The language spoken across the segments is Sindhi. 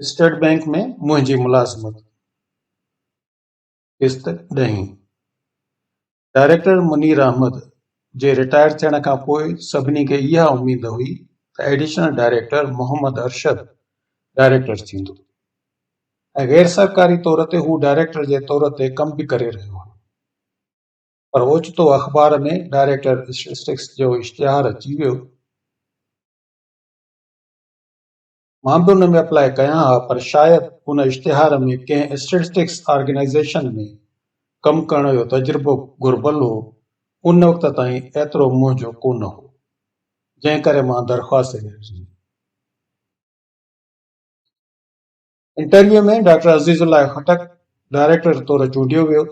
اسٽيٽ بينڪ ۾ منهنجي ملازمت قسط ڏهين ڊائريڪٽر منير احمد جي رٽائر ٿيڻ کان پوء سڀني کي اها اميد هئي ته additional director Muhammad Arshad director ٿيندو ۽ غير سرڪاري طور تي هو ڊائريڪٽر جي طور تي ڪم به ڪري رهيو هو پر اوچتو اخبار ۾ ڊائريڪٽر اسٽيٽسٽڪس جو اشتهار اچي ويو. مان به ان ۾ اپلاء ڪيان ها پر شايد ان اشتهار ۾ ڪنهن اسٽيٽسٽڪس آرگنائيزيشن ۾ ڪم ڪرڻ جو تجربو گهربل هو، ان وقت تائين ايترو منهن جو ڪونه هو، جنهن ڪري مان درخواست نه ڏني. انٽرويو ۾ ڊاڪٽر عزيز الله خٽڪ ڊائريڪٽر طور چونڊيو ويو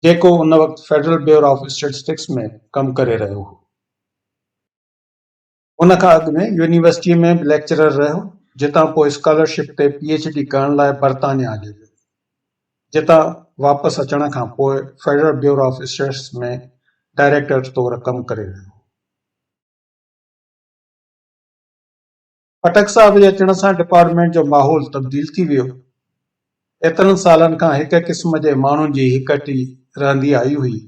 جيڪو ان وقت فيڊرل بيورو آف اسٽيٽسٽڪس ۾ ڪم ڪري رهيو هو ان کان اڳ ۾ يونيورسٽي ۾ به ليڪچرر رهيو جتان پوء اسڪالرشپ تي پي ايڇ ڊي ڪرڻ لاء برطانيا هليو ويو جتان واپس اچڻ کان پوء federal bureau of stats ۾ director طور ڪم ڪري رهيو خٽڪ صاحب جي اچڻ سان ڊپارٽمينٽ جو ماحول تبديل ٿي ويو. ايترن سالن کان هڪ قسم جي ماڻهن جي هڪٽي رهندي آئي هئي.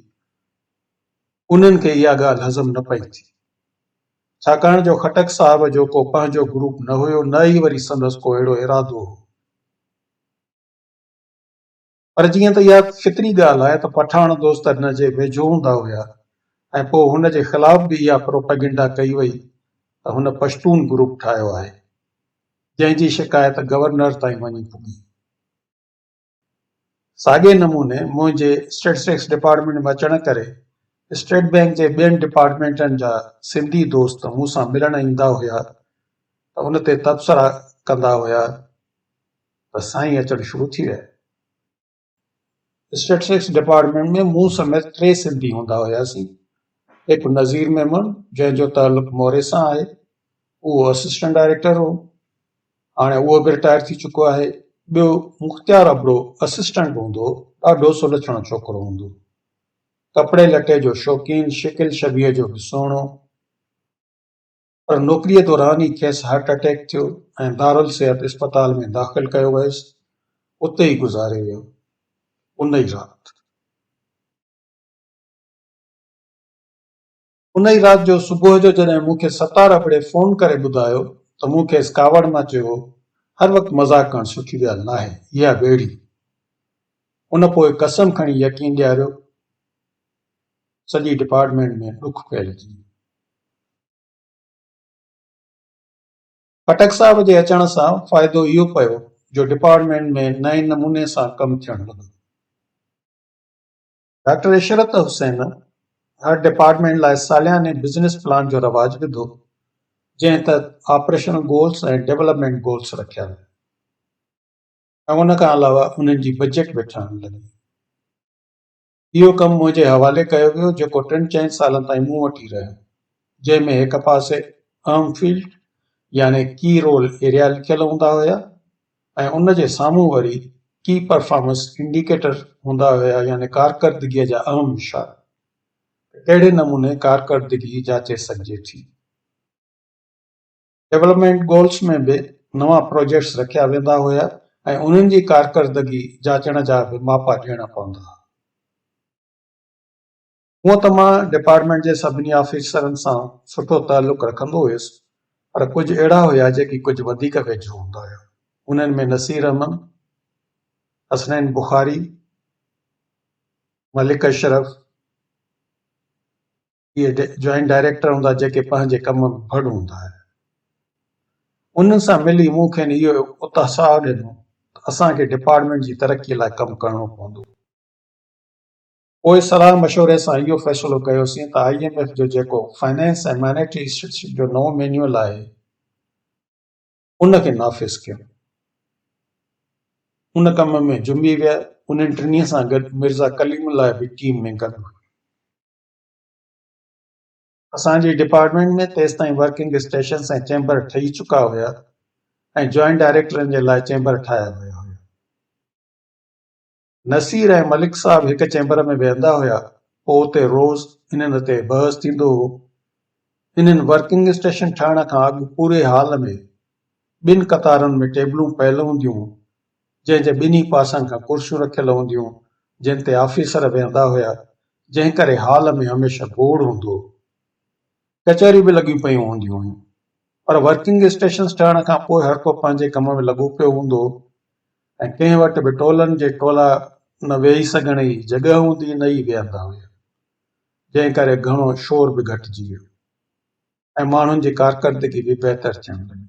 انهن کي اها ڳالهه هضم نه پئي ٿي. ڇاڪاڻ جو خٽڪ صاحب جو ڪو پنهنجو گروپ نه هيو نه ئي وري سندس ڪو اهڙو ارادو هو. پر جيئن ته اها فطري ڳالهه آهي ته پٺاڻ دوست هن جي ويجهو هوندا هيا ۽ پوء هن جي خلاف به اها پروپئگنڊا ڪئي وئي ته هن پشتون گروپ ٺاهيو آهي جنهن جي شڪايت گورنر تائين وڃي پڳي. ساڳئي نموني منهنجي اسٽيٽسٽڪس ڊپارٽمينٽ ۾ اچڻ ڪري اسٽيٽ بئنڪ جي ٻين ڊپارٽمينٽن جا سنڌي دوست مون سان ملڻ ايندا هيا ته ان تي تبصرا ڪندا هيا ته سائين اچڻ شروع ٿي ويا. اسٽيٽسٽڪس ڊپارٽمينٽ ۾ مون سميت ٽي سنڌي هوندا هياسين، هڪ نظير ميمڻ جنهن جو تعلق موري سان آهي، اهو اسسٽنٽ ڊائريڪٽر هو، هاڻي اهو به رٽائر ٿي چڪو آهي، ٻيو مختيار ابڙو اسسٽنٽ هوندو هو، ڏاڍو سلڇڻو ڇوڪرو هوندو هو، ڪپڙي لٽي جو شوقين، شڪل شبيهه جو به سهڻو. پر نوڪريء دوران ئي کيس هارٽ اٽيڪ ٿيو ۽ دارالصحت اسپتال ۾ داخل ڪيو ويس، اتي ئي گذاري ويو. ان ئي رات. ان ئي رات جو صبح جو جڏهن مون کي ستار ابڙي فون ڪري ٻڌايو ته مون کيس ڪاوڙ مان چيو هو، هر وقت مذاق ڪرڻ سٺي ڳالهه ناهي، اها ويڙهي. ان پوء قسم کڻي يقين ڏياريو. سڄي ڊپارٽمينٽ ۾ ڏک ڦهلجي ويو. خٽڪ صاحب جي اچڻ سان فائدو اهو پيو جو ڊپارٽمينٽ ۾ نئين نموني سان ڪم ٿيڻ لڳو. ڊاڪٽر عشرت حسين هر ڊپارٽمينٽ لاء سالياني بزنس پلان جو رواج وڌو، جنهن تحت آپريشنل گولز ۽ ڊولپمينٽ گولز رکيا ويا ۽ ان کان علاوه انهن جي بجيٽ به ٺهڻ لڳي. اهو ڪم منهنجي حوالي ڪيو ويو جيڪو ٽن چئن سالن تائين مون وٽ ئي رهيو جنهن ۾ هڪ پاسي اهم فيلڊ يعني ڪي رول ايريا لکيل هوندا هيا ۽ ان جي سامهون وري ڪي پرفارمنس انڊيڪيٽر هوندا هيا يعني ڪارڪردگيء جا اهم اشارا ته ڪهڙي نموني ڪارڪردگي جاچي سگهجي ٿي. ڊولپمينٽ گولز ۾ به نوان پروجيڪٽس رکيا ويندا هيا ۽ انهن جي ڪارڪردگي جاچڻ جا به ماپا ڏيڻا پوندا هئا. هونئن ته مان ڊپارٽمينٽ جي سڀني آفيسرن سان سٺو تعلق رکندو هيس پر ڪجهه اهڙا هيا جيڪي ڪجهه وڌيڪ ويجهو هوندا هيا. انهن ۾ نصير احمد، حسنين بخاري، ملڪ اشرف، اهي جوائنٽ ڊائريڪٽر هوندا جيڪي پنهنجي ڪم ۾ ڀڙ هوندا آهن. انهن سان ملي مون کين اهو اتساهه ڏنو ته اسان کي ڊپارٽمينٽ جي ترقي لاء ڪم ڪرڻو پوندو. پوء صلاح مشوري سان اهو فيصلو ڪيوسين ته آئي ايم ايف جو جيڪو فنانس ۽ مانيٽري اسٽيٽشپ جو نئون مينيول آهي ان کي نافذ ڪيون. ان ڪم ۾ جنبي ويا. انهن ٽنهي سان گڏ مرزا ڪليم الله به ٽيم ۾ گڏ هئي. اسان جي ڊپارٽمينٽ ۾ تيستائين ورڪنگ اسٽيشنس ۽ چيمبر ٺهي چڪا هيا ۽ جوائنٽ ڊائريڪٽرن جي لاء چيمبر ٺاهيا ويا هيا. نصير ۽ ملڪ صاحب هڪ چيمبر ۾ ويهندا هيا، پوء اتي روز انهن تي بحث ٿيندو هو. انهن ورڪنگ اسٽيشن ٺهڻ کان اڳ پوري هال ۾ ٻن قطارن ۾ ٽيبلون پيل هونديون هيون جنهن جي ٻنهي پاسن کان ڪرسيون رکيل هونديون جن تي آفيسر ويهندا هيا جنهن ڪري هال ۾ هميشه گوڙ هوندو هو. ڪچهريون به لڳيون پيون هونديون هيون پر ورڪنگ اسٽيشنز ٺهڻ کان پوء هر ڪو پنهنجي ڪم ۾ لڳو پيو هوندو هو ۽ ڪنهن وٽ به ٽولن جي ٽولا نه ويهي سگهڻ جي جڳهه هوندي نه ئي ويهندا هيا جنهن ڪري گهڻو شور به گهٽجي ويو ۽ ماڻهن جي ڪارڪردگي به بهتر ٿيڻ لڳي.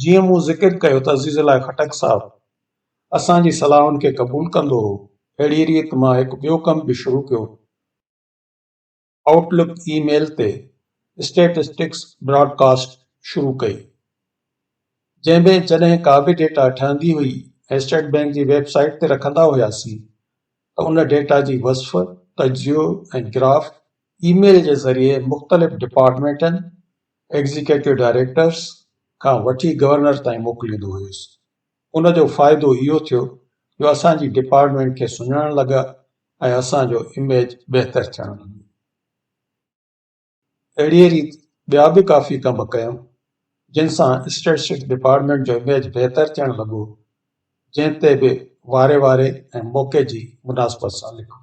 جيئن مون ذڪر ڪيو ته عزيز الله خٽڪ صاحب اسان جي صلاحن کي قبول ڪندو هو، اهڙيء ريت مان هڪ ٻيو ڪم به شروع ڪيو هو. آئوٽ لڪ اي ميل تي اسٽيٽسٽڪس براڊ ڪاسٽ شروع ڪئي، جنهن ۾ جڏهن ڪا به ڊيٽا ٺهندي هئي ۽ اسٽيٽ بئنڪ جي ويب سائيٽ تي رکندا هياسين ته ان ڊيٽا جي وصف، تجزيو ۽ گراف اي ميل جي ذريعي مختلف ڊپارٽمينٽن ايگزيڪيٽو ڊائريڪٽرز کان وٺي گورنر تائين موڪليندو هيس. ان جو فائدو اهو ٿيو جو اسان جي ڊپارٽمينٽ کي سڃاڻڻ لڳا ۽ اسان جو اميج بهتر ٿيڻ لڳو. اهڙيء ريت ٻيا به ڪافي ڪم ڪيم، جن سان اسٽيٽسٽڪس ڊپارٽمينٽ جو اميج بهتر ٿيڻ لڳو، جنهن تي به واري واري ۽ موقعي جي مناسبت سان لکبو.